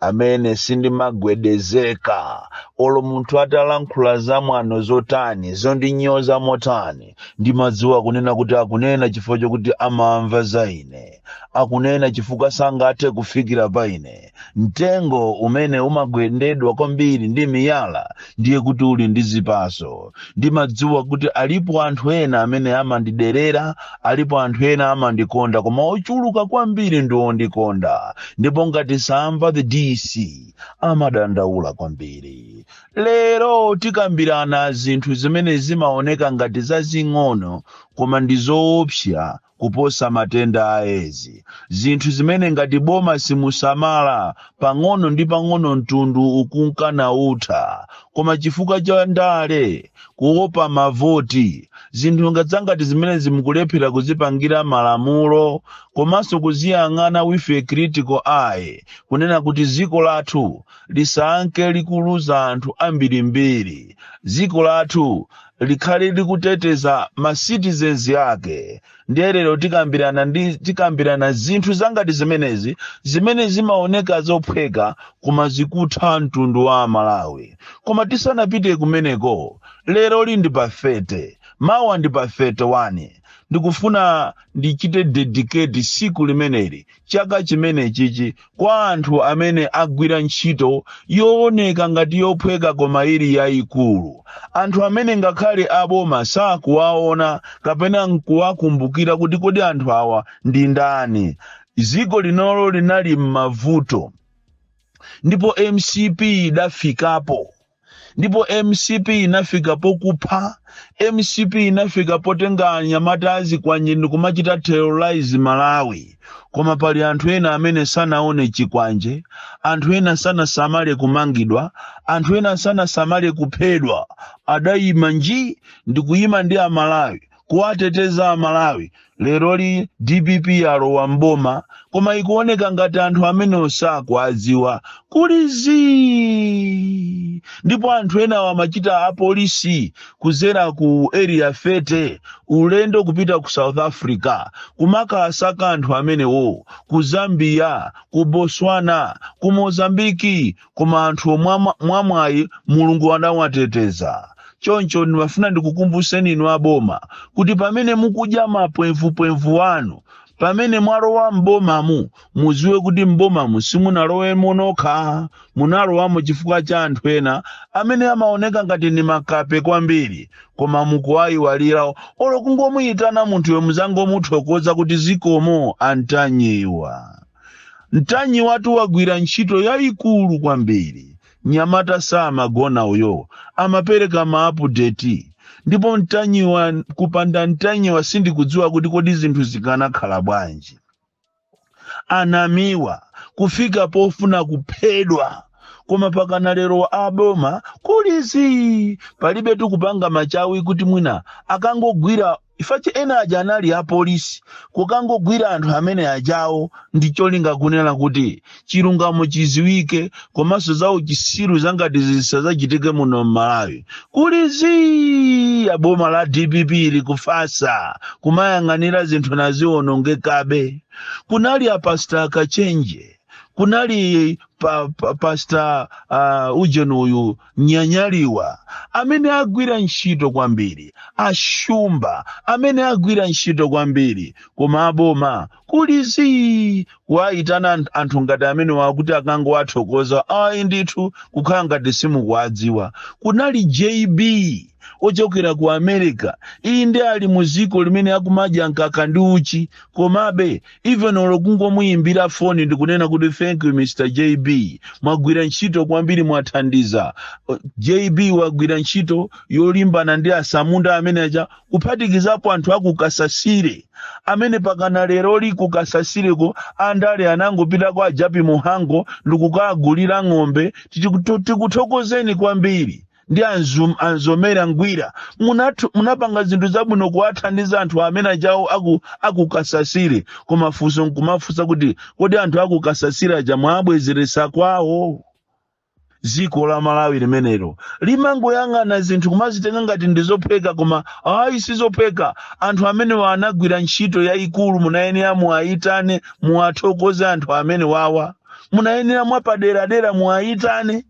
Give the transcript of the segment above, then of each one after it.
amene sindimagwedezeka olo munthu atalankhula zamwano zotani zondinyoza motani ndimadziwa kunena kuti akunena chifukwa chokuti amamva za ine akunena chifukwa sangathe kufikira pa ine mtengo umene umagendedwa kwambiri ndi miyala ndiye kuti uli ndi zipaso ndimadziwa kuti alipo anthu ena amene amandiderera alipo anthu ena amandikonda koma ochuluka kwambiri ndi ondikonda ndipo ngati samva the dc amadandaula kwambiri lero tikambirana zinthu zimene zimaoneka ngati zazing'ono koma ndi zoopsa kuposa matenda a edzi, zinthu zimene ngati boma simusamala, pang'ono ndi pang'ono mtundu ukunka nautha. Koma chifukwa cha ndale, kuopa mavoti, zinthu nga- zangati zimenezi mukulephera kuzipangira malamulo komanso kuziyang'ana with a critical eye kunena kuti dziko lathu lisanke likuluza anthu ambirimbiri, dziko lathu likhale likuteteza ma citizens ake ndiye lero tikambirana ndi tikambirana zinthu zangati zimenezi zimene zimaoneka zophweka koma zikutha mtundu wa amalawi koma tisanapite kumeneko leroli ndi pa 30 mawa ndi pa 31 ndikufuna ndichite dedicate siku limeneli chaka chimenechichi kwa anthu amene agwira ntchito yooneka ngati yophweka koma ili yayikulu anthu amene ngakhale aboma sakuwaona kapena nkuwakumbukira kuti kodi anthu awa ndi ndani dziko linolo linali m'mavuto ndipo mcp idafikapo ndipo mcp inafika pokupha mcp inafika potenga anyamata azikwanje ndikumachita terrorize malawi koma pali anthu ena amene sanaone chikwanje anthu ena sanasamale kumangidwa anthu ena sanasamale kuphedwa adayima nji ndikuyima ndi amalawi kuwateteza amalawi leroli dpp alowa mboma koma ikuoneka ngati anthu amenewo sakuwadziwa kuli zii ndipo anthu enawa amachita apolisi kudzera ku area 30 ulendo kupita ku south africa kumakasaka anthu amenewo ku zambia ku botswana ku mozambiki koma anthuwo mwamwayi mulungu anawateteza choncho ndimafuna ndikukumbutseni inu aboma kuti pamene mukudya mapwemvupwemvu wanu pamene mwalowa m'bomamu mudziwe kuti m'bomamu simunalowemo nokha munalowamo chifukwa cha anthu ena amene amaoneka ngati ni makape kwambiri koma mukuwayiwalira olo kungomuyitana munthuyo muzangomuthokoza kuti zikomo a ntanyiwa Mtanyiwatu wagwira ntchito yayikulu kwambiri nyamata samagona uyo amapereka maapudeti ndipo mtanyiwa kupanda mtanyiwa sindikudziwa kuti kodi zinthu zikanakhala bwanji anamiwa kufika pofuna kuphedwa koma pakana lero aboma kuli zii palibe tukupanga machawi kuti mwina akangogwira Chifukwa cha ena aja anali a police kukangogwira anthu amene ajawo ndi cholinga kunena kuti chilungamo chiziwike komanso za uchisiru zangati zisadzachitike muno m'Malawi. Kuli zii a boma la dpp likufasa kumayang'anira zinthu nazionongekabe. Kunali a Pastor Kachenje, kunali pa, pa, Pastor uh, Ujeni uyu nyanyaliwa amene agwira ntchito kwambiri, a shumba amene agwira ntchito kwambiri, koma aboma kuli zii, kuwayitana ant- anthu ngati amenewa kuti akangowathokoza ayi ndithu kukhala ngati simukuwadziwa. Kunali JB ochokera ku america inde ali mu dziko limene akumadya mkaka ndi uchi komabe even olo kungomuyimbira foni ndikunena kuti thank you mr jb mwagwira ntchito kwambiri mwathandiza Uh, jb wagwira ntchito yolimbana ndi atsamunda amene aja kuphatikizapo anthu akukasasire amene pakana lero ali ku Kasasireko andale anangopita kwa a Jappie Mhango ndikukagulira ng'ombe Tiku- tikuthokozeni kwambiri ndi anzum, a Mzomera ngwira munathu, munapanga zinthu zabwino kuwathandiza anthu amene ajawo aku, akukasasire koma funso nkumafunsa kuti kodi anthu akukasasire aja mwabwezeretsa kwawo dziko la malawi limenelo limangoyang'ana zinthu kumazitenga ngati ndi zophweka koma ayi si zophweka anthu amenewa anagwira ntchito yayikulu munayenera muwayitane muwathokoze anthu amene wawa munayenera mwapaderadera muwayitane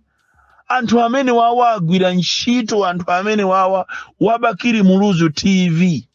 anthu amene wawa agwira ntchito anthu amene wawa wa Bakili muluzu tv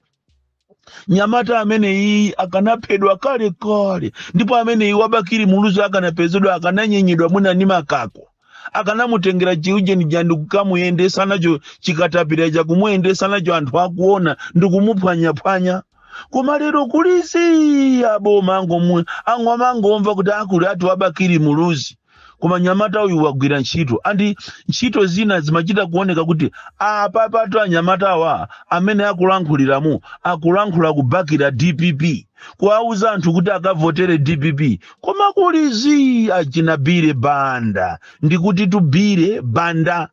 nyamata ameneyi akanaphedwa kale kale ndipo ameneyi wa Bakili muluzu akanapezedwa akananyenyedwa mwina ni makako akanamutengera chiujeni ja ndikukamuyendesa nacho chikatapila chakumuyendesa nacho anthu akuona ndikumuphwanyaphwanya koma lero kuli zii aboma angomu- ango amangomva kuti akuli ati wa Bakili Muluzi koma nyamata uyu wagwira ntchito andi ntchito zina zimachita kuoneka kuti apapatu anyamatawa amene akulankhuliramo akulankhula kubakira dpp kuwauza anthu kuti akavotere dpp koma kuli zii achina bire banda ndikuti tubire banda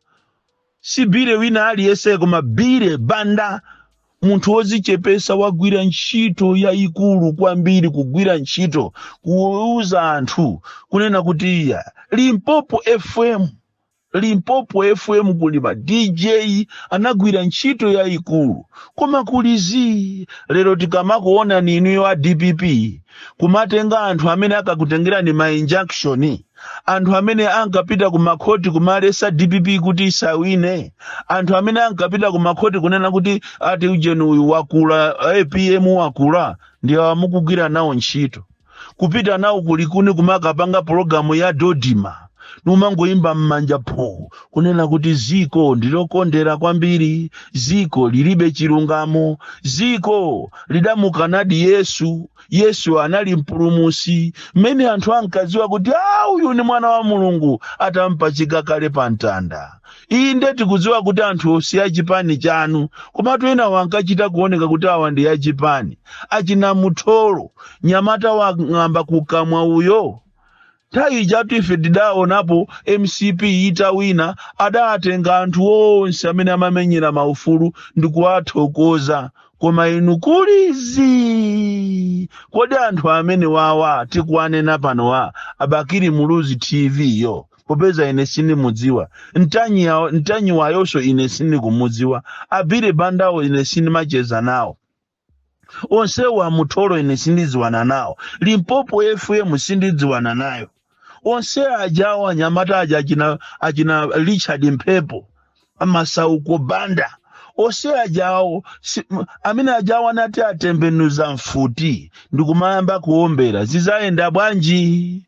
si Bire wina aliyense koma Bire Banda munthu wozichepesa wagwira ntchito yayikulu kwambiri kugwira ntchito kuuza anthu kunena kuti iya Limpopo FM Limpopo FM kuli ma DJ anagwira ntchito yayikulu koma kuli zii lero tikamakuonani inuyo a DPP kumatenga anthu amene akakutengerani ma injunction anthu amene ankapita ku makhoti kumalesa dpp kuti isawine anthu amene ankapita ku makhoti kunena kuti ati ujeni uyu wakula apm wakula ndi awa mukugwira nawo ntchito kupita nawo ku Likuni kumakapanga pologalamu ya Dodoma numangoyimba m'manja pho kunena kuti ziko ndilokondera kwambiri ziko lilibe chilungamo ziko lidamukanadi yesu yesu anali mpulumusi mmene anthu ankaziwa kuti a uyu ni mwana wa mulungu atampachika kale pa mtanda iyi nde tikuziwa kuti anthu si achipani chanu komatu enawo ankachita kuoneka kuti awa ndi achipani achina mutholo nyamata wang'amba kukamwa uyo Nthawi ijatu ife tidaonapo mcp itawina adatenga anthu onse amene amamenyera maufulu ndikuwathokoza koma inu kuli zii kodi anthu amene wawa tikuwanena pano wa abakiri muluzi tv yo popeza ine sindimudziwa a Ntanyiwayonso ine sindikumudziwa a Bire Bandawo ine sindimacheza nawo onsewo a Mutholo ine sindidziwana nawo limpopo fm sindidziwana nayo onse ajawo anyamata aja achina, achina richard mphepo a Masauko banda onse ajawo si, m- amene ajawo atati atembenuza mfuti ndikumayamba kuombera zizayenda bwanji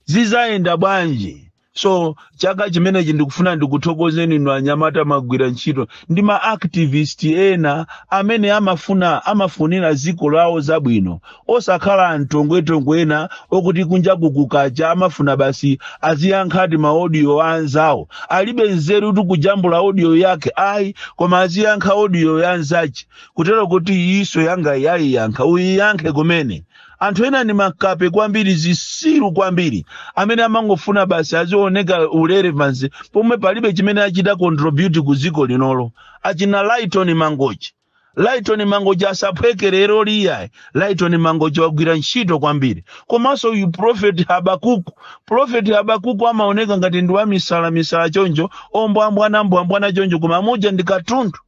zizayenda bwanji so chaka chimenechi ndikufuna ndikuthokozeni inu anyamata magwira ntchito ndi ma activist ena amene amafuna amafunira ziko lawo zabwino osakhala antongwetongwe ena okuti kunja kukacha amafuna basi aziyankha ti ma audio a anzawo alibe nzeru kuti kujambula audio yake ayi koma aziyankha audio ya anzache kutero kuti iyiso yangayi ayiyankha uyiyankhe kumene Anthu ena ndi makape kwambiri, zisiru kwambiri, amene amangofuna basi azioneka u relevance pomwe palibe chimene achita contribute ku ziko linolo. Achina Lyton Mangochi. Lyton Mangochi asaphweke lero liyayi. Lyton Mangochi wagwira ntchito kwambiri. Komanso uyu Prophet Habakuku. Prophet Habakuku amaoneka ngati ndi wamisala misala choncho, ombwambwana mbwambwana choncho koma muja ndi katundu.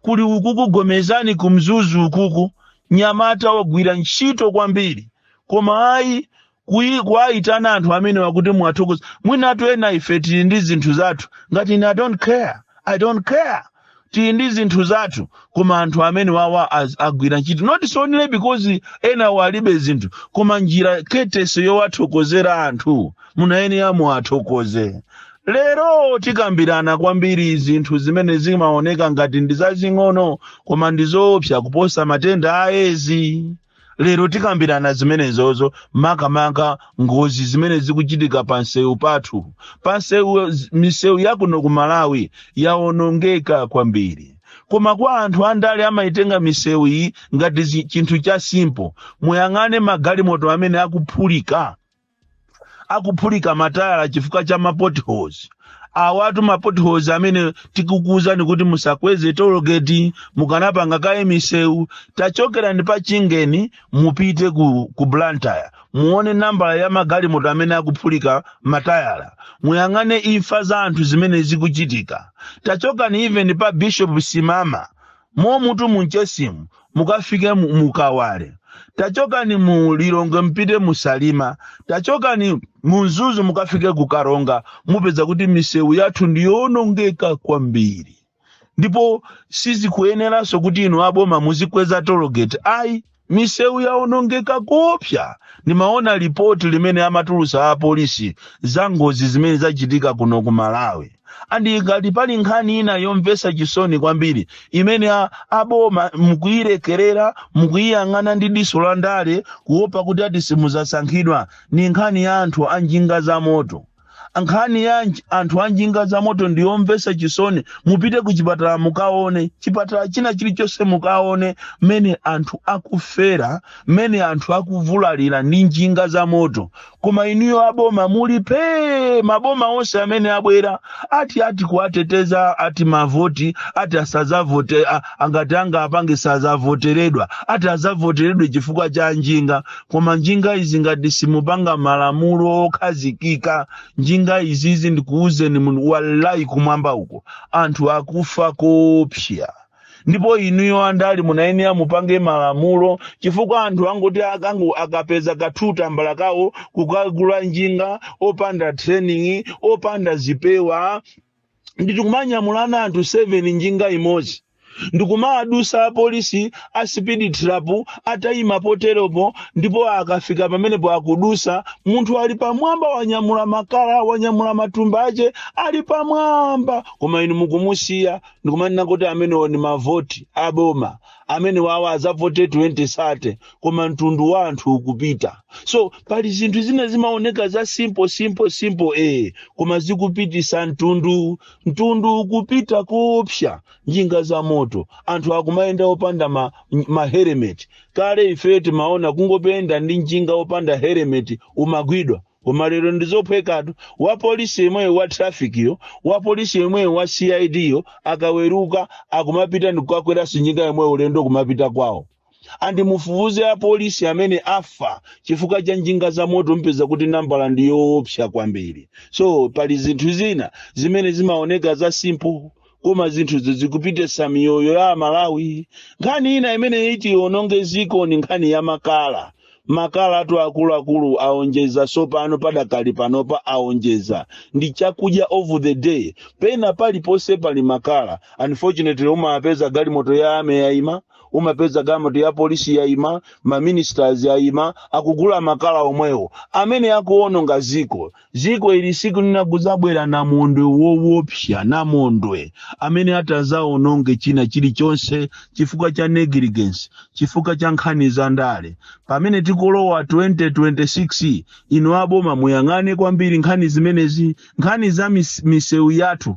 Kuli ukuku gomezani ku Mzuzu ukuku nyamata wagwira ntchito kwambiri koma ayi kuyi kuwayitana anthu amenewa kuti muwathokoze mwinatu ena ife tili ndi zinthu zathu ngati ine I don't care I don't care tili ndi zinthu zathu koma anthu amene wawa az- agwira ntchito not only because ena walibe zinthu koma njira ketese yowathokozera anthu munayenera muwathokoze Lero tikambirana kwambiri zinthu zimene zimaoneka ngati ndi zazing'ono koma ndi zoopsa kuposa matenda a Edzi. Lero tikambirana zimenezozo makamaka ngozi zimene zikuchitika pa msewu pathu. Pa msewu misewu ya kuno ku Malawi yawonongeka kwambiri. Koma kwa anthu andale amayitenga misewu iyi ngati zi- chinthu cha simple. Muyang'ane magalimoto amene akuphulika. akuphulika matayala chifukwa cha ma potholes awatu ma potholes amene tikukuuzani kuti musakweze tologeti mukanapanga kaye misewu tachokerani pa chingeni mupite ku, ku blantyre muone nambala ya magalimoto amene akuphulika matayala muyang'ane imfa za anthu zimene zikuchitika tachokani even pa bishop simama momutu mu Mchesimu mukafike mu- mu Kawale tachokani mu lilongwe mpite mu salima tachokani mu mzuzu mukafike ku karonga mupeza kuti misewu yathu ndi yoonongeka kwambiri ndipo sizikuyeneranso kuti inu aboma muzikweza tologeti ayi Misewu yaonongeka koopsa. Ndimaona lipoti limene amatulutsa a polisi za ngozi zimene zachitika kuno ku Malawi and ngati pali nkhani ina yomvetsa chisoni kwambiri imene a, a boma mukuilekerera mukuiyang'ana ndi diso la ndale kuopa kuti ati simudzasankhidwa ndi nkhani ya anthu a njinga za moto. nkhani ya nj- anthu a njinga za moto ndi yomvetsa chisoni mupite ku chipatala mukaone chipatala china chilichonse mukaone mmene anthu akufera mmene anthu akuvulalira ndi njinga za moto koma inuyo aboma muli pee maboma onse amene abwera ati ati kuwateteza ati mavoti ati asazavote a- angati anga apange sazavoteredwa ati azavoteredwe chifukwa cha njinga koma njinga izi ngati simupanga malamulo okhazikika njinga izizi ndikuwuzeni munthu wallahi kumwamba uko anthu akufa koopsa ndipo inuyo andale munayenera mupange malamulo chifukwa anthu angoti akango akapeza ka two tambala kawo kukagula njinga opanda training opanda zipewa nditikumanyamulana anthu 7 njinga imodzi ndikumawadusa apolisi a speed trap atayima poteropo ndipo akafika pamenepo akudusa munthu ali pamwamba wanyamula makala wanyamula matumba ache ali pamwamba koma inu mukumusiya ndikumanena kuti amenewo ni mavoti aboma amene awa azavote 2030 koma mtundu wa anthu ukupita so pali zinthu zina zimaoneka za simple simple simple eh koma zikupitisa mtundu mtundu ukupita koopsa njinga za moto anthu akumayenda opanda ma, ma helmet kale ife timaona kungoyenda ndi njinga opanda helmet umagwidwa koma lero ndizophwekatu wa polisi yemweyo wa traffic yo wa polisi yemweyo wa cid yo akaweruka akumapita ndikukakweranso njinga yomweyo ulendo kumapita kwawo and mufufuze apolisi amene afa chifukwa cha njinga za moto mpeza kuti nambala ndi yoopsa kwambiri so pali zinthu zina zimene zimaoneka za simple koma zinthuzi zikupititsa miyoyo ya amalawi nkhani ina imene iti iononge ziko ni nkhani ya makala makalatu akuluakulu aonjeza tsopano padakali panopa aonjeza ndi chakudya of the day pena paliponse pali makala unfortunately umapeza galimoto ya army yaima umapeza galimoto ya polisi yaima maministers ayima akugula makala omwewo amene akuononga ziko Ziko ili tsiku lina kudzabwera namondwe wowopsya, namondwe amene atadzawononge china chilichonse, chifukwa cha negligence, chifukwa cha nkhani za ndale. Pamene tikulowa 2026, ino aboma muyang'ane kwambiri nkhani zimenezi, nkhani za mis, misewu yathu,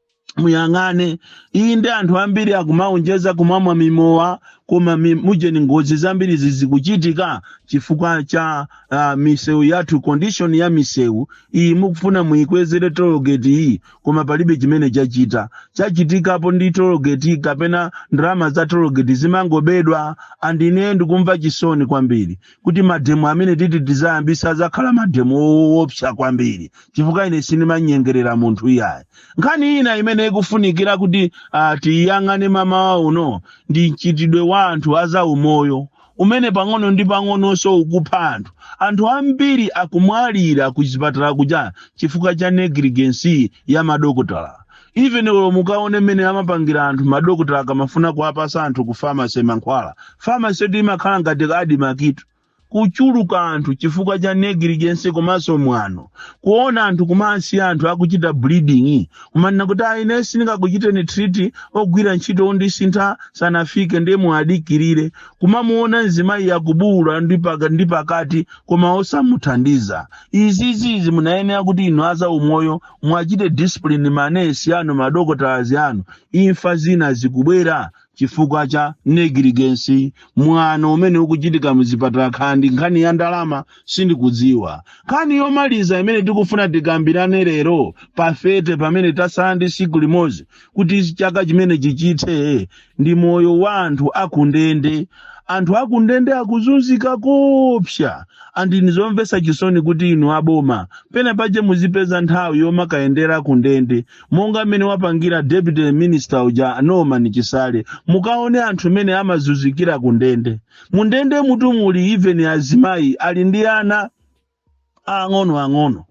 muyang'ane inde anthu ambiri akumaonjeza kumamwa mimowa koma mi- mujeni ngozi zambiri zizikuchitika chifukwa cha uh, misewu yathu condition ya misewu iyi mukufuna muyikwezere tologeti iyi koma palibe chimene chachita chachitikapo ndi tologeti kapena ndalama za tologeti zimangobedwa and ine ndikumva chisoni kwambiri kuti mademo amene titi tizayambisa azakhala mademo owopsa kwambiri chifukwa ine sindimanyengerera munthu iyayi nkhani ina imene ikufunikira kuti uh, tiyang'ane mamawa uno ndi mchitidwe wa anthu azaumoyo umene pang'ono ndi pang'ononso ukupha anthu anthu ambiri akumwalira ku zipatala kuja chifukwa cha negligence ya madokotala even olo mukaone mmene amapangira anthu madokotala akamafuna kuwapasa anthu ku pharmacy mankhwala pharmacy yoti imakhala ngati admarc tu kuchuluka anthu chifukwa cha negligence komanso mwano kuona anthu kumawasiya anthu akuchita bleeding kumanena kuti a ine sindingakuchiteni treat ogwira ntchito ondisintha sanafike ndiye muadikirire kumamuona mzimayi akubuwula ndi paka- ndi pakati koma osamuthandiza izizizi munayenera kuti inu azaumoyo mwachite discipline manesi anu madokotalazi anu imfa zina zikubwera chifukwa cha negligence mwano umene ukuchitika muzipatala kaya ndi nkhani ya ndalama sindikudziwa nkhani yomaliza imene tikufuna tikambirane lero pafete pamene tasala ndi siku limodzi kuti chaka chimene chichithe ndi moyo wa anthu akundende anthu akundende akuzunzika kopsa and ndi zomvesa chisoni kuti inu aboma pena pache muzipeza nthawi yomakayendera kundende monga mmene wapangira deputy minister uja norman chisale mukaone anthu mene amazunzikira kundende mundende mutimu muli even azimayi ali ndi ana aang'ono ang'ono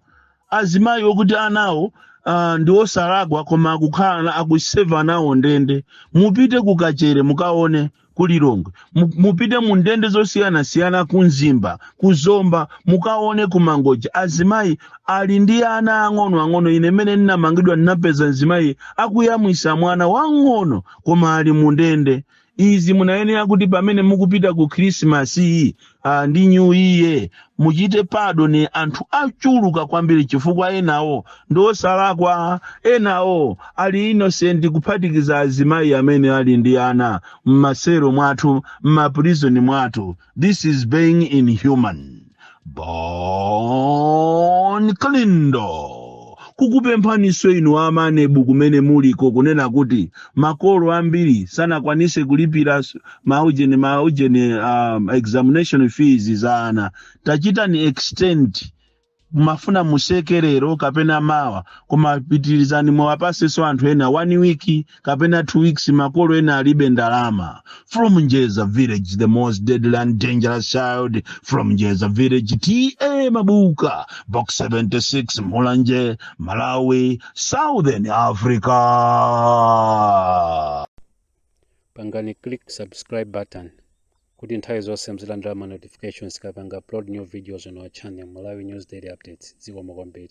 azimayi okuti anawo uh, ndi osalakwa koma akukhala akuseva nawo ndende mupite ku kachere mukaone ku lilongwe Mu- mupite mu ndende zosiyanasiyana ku mzimba ku zomba mukaone ku mangoja azimayi ali ndi ana ang'ono ang'ono ine mmene ndinamangidwa ndinampeza mzimayi akuyamwisa mwana wang'ono koma ali mu ndende izi munayenera kuti pamene mukupita ku khrisimasi ah, ndi new year muchite padoni anthu achuluka kwambiri chifukwa enawo ndi osalakwa enawo ali innocent kuphatikiza azimayi amene ali ndi ana m'masero mwathu m'maprizoni mwathu this is being inhuman bon kalindo kukupemphaninso inu amanebu kumene muliko kunena kuti makolo ambiri sanakwanise kulipira s- maujeni maujeni um, examination fees za ana tachitani extend mumafuna museke lero kapena mawa koma pitirizani muwapasenso anthu ena one week kapena 2 weeks makolo ena alibe ndalama from njeza village the most deadly and dangerous child from njeza village ta mabuka box 76 mulanje malawi southern africa pangani click subscribe button kuti nthawi zonse muzilandira ma notifications tikapanga upload new videos on our channel malawi news daily updates zikomo kwambiri